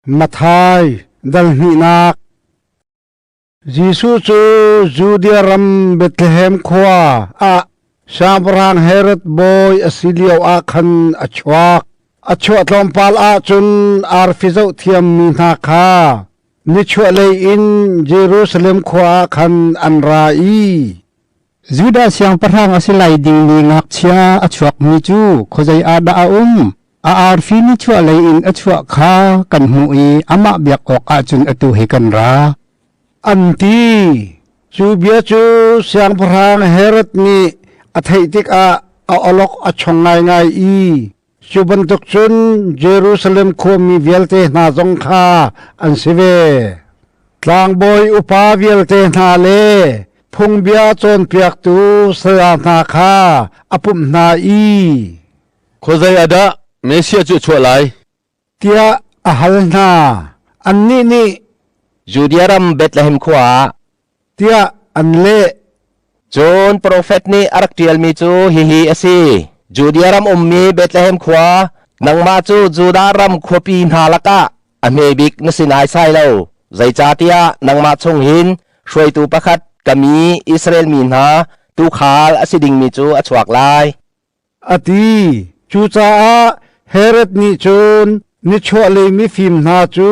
Mathai dal hnihnak Jesuh cu Judea ram Bethlehem khua ah Siangpahrang Herod bawi a si lio ah khan a chuak. A chuah tlawmpal ahcun arfi zoh thiammi hna kha nichuahlei in Jerusalem khua ah khan an ra i Judah siangpahrang a si lai ding mi ngakchia a chuakmi cu khuazei ah dah a um? A arfi nichuahlei in a chuah kha kan hmuh i amah biak awkah cun atu hi kan ra, an ti. Cu bia cu siangpahrang Herod nih a theih tikah a awlok a chong ngaingai i, Cu bantuk cun Jerusalem khuami vialte hna zong kha an si ve. Tlangbawi upa vialte hna le phungbia cawnpiaktu saya hna kha a pumh hna i, “Khuazei ah dah Messiah cu a chuah lai? tiah a hal hna. Annih nih Judea ram Bethlehem khua ah tiah an leh. Cun profet nih a rak ṭialmi cu hihi a si: Judea ram ummi Bethlehem khua, nangmah cu Judah ram khuapi hna lakah a hmebik na si naisai lo. Zeicahtiah nangmah chung hin hruaitu pakhat ka mi Israel mi hna tuukhal a si dingmi cu a chuak lai. a ti. Cucaah Herod nih cun nichuahlei mifim hna cu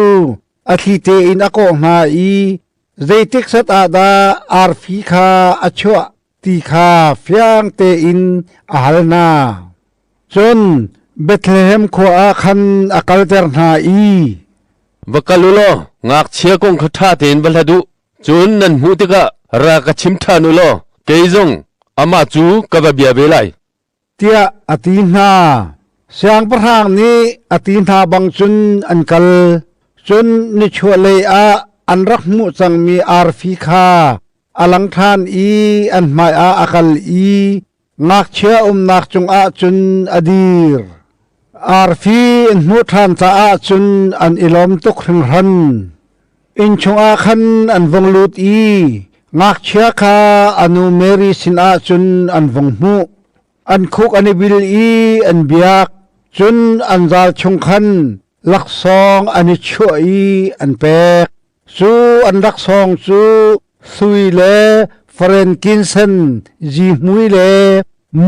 a thlite in a kawh hna i zeitik set ah dah arfi kha a chuah ti kha fiang tein a hal hna. Cun Bethlehem khua ah khan a kalter hna i, “Va kal u law ngakchia kong kha ṭha tein va hlat u. Cun nan hmuh tikah ra ka chim ṭhan u law kei zong amah cu ka va bia ve lai, tiah a ti hna. Siangpahrang nih a ti hna bang cun an kal. Cun nichuahlei ah an rak hmuh cangmi arfi kha a lang ṭhan i an hmaiah a kal i Ngakchia umnak cungah cun a dir. Arfi an hmuh ṭhan caah cun an i lawm tuk hringhran. Inn chungah khan an vung lut i ngakchia kha a nu Mary sinah cun an vung hmuh. An khuk an i bil i an biak, cun an zal chung khan laksawng an i chuah i an pek. Cu an rak sawng cu sui le farenkinsen zihmui le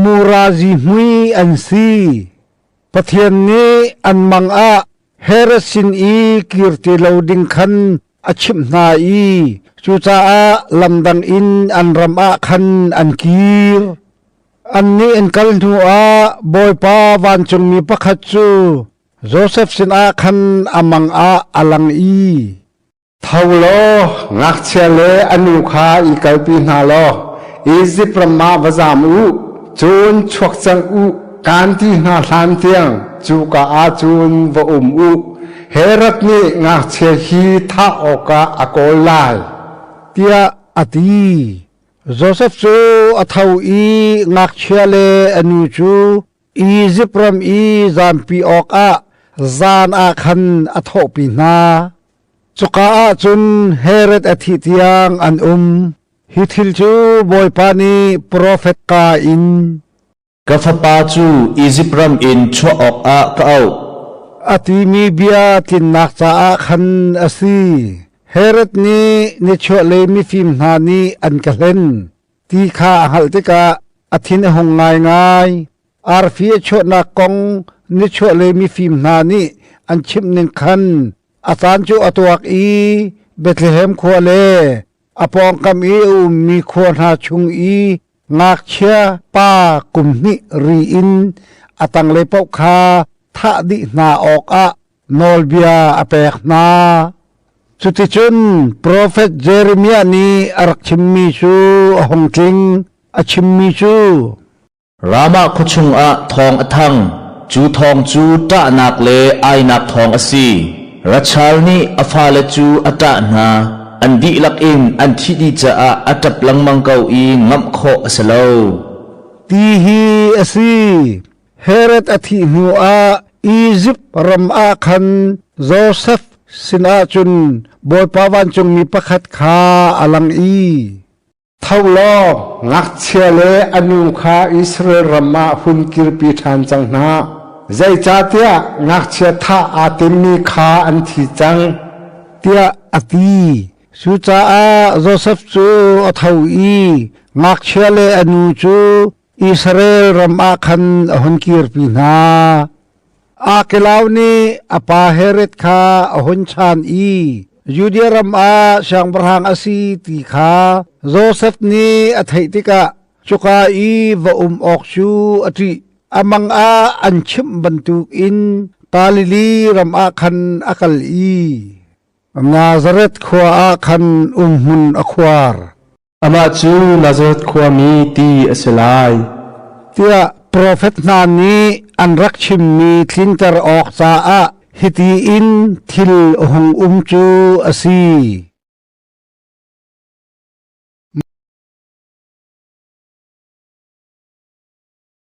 mura zihmui an si. Pathian nih an mang ah Herod sin i kir ti lo ding khan a chimh hna i cucaah lamdang in an ram ah khan an kir. Annih an kal hnuah Bawipa vancungmi pakhat cu, Josef sinah khan a mang ah a lang i, Tho law ngakchia le a nu kha i kalpi hna law Izipt ram ah va zam u, cun chuak cang u, kaan ti hna hlan tiang cuka ah cun va um u. Herod nih ngakchia hi thah awkah a kawl lai, tiah a ti. Josef cu a tho i ngakchia le a nu cu Izipt ram i zaanpi awkah zan ah khan a thawhpi hna. Cuka ah cun Herod a thih tiang an um. Hi thil cu Bawipa nih profet ka in, “Ka fapa cu Izipt ram in chuah awkah ka auh,” a timi bia tlinnak caah khan a si. Herod nih ni chuahlei mifim hna nih an ka hlen. ti kha a hngalh tikah a thin a hung ngaingai. Arfi a chuahnak kong nichuah le mifim hna nih an chimh ning khan a caan cu a tuak i Bethlehem khua le a pawngkam i a ummi khua hna chung i ngakchia pa kum hnih ri in a tanglei paoh kha thah dih hna awkah nawlbia a pek hna. Cuticun profet Jeremiah nih a rak chimmi cu a hung tling. A chimmi cu Ramah khua chungah thawng a thang. Cu thawng cu ṭahnak le ainak thawng a si. Rachal nih a fale cu a ṭah hna. An dihlak in an thih dih caah a ṭap lengmang ko i ngamh khawh a si lo, ti hi a si. Herod a thih hnuah Izipt ram ah khan Josef sinah cun Bawipa vancungmi pakhat kha a lang i, “Tho law ngakchia le a nu kha Israel ram ah hun kirpi ṭhan cang hna. Zeicahtiah ngakchia thah aa timmi kha an thi cang,” tiah a ti. Cucaah Josef cu a tho i ngakchia le a nu cu, Israel ram ah khan a hun kirpi hna. Arkelau nih a pa Herod kha a hun chan i Judea ram ah siangpahrang a si ti kha Josef nih a theih tikah cuka i va um awk cu a ṭih. Amang ah an chimh bantuk in Galili ram ah khan a kal i Nazareth khua ah khan umhmun a khuar. amah cu Nazareth khuami ti a si lai tiah profet hna nih an rak chimmi tlinter awk caah hiti in thil hung um cu a si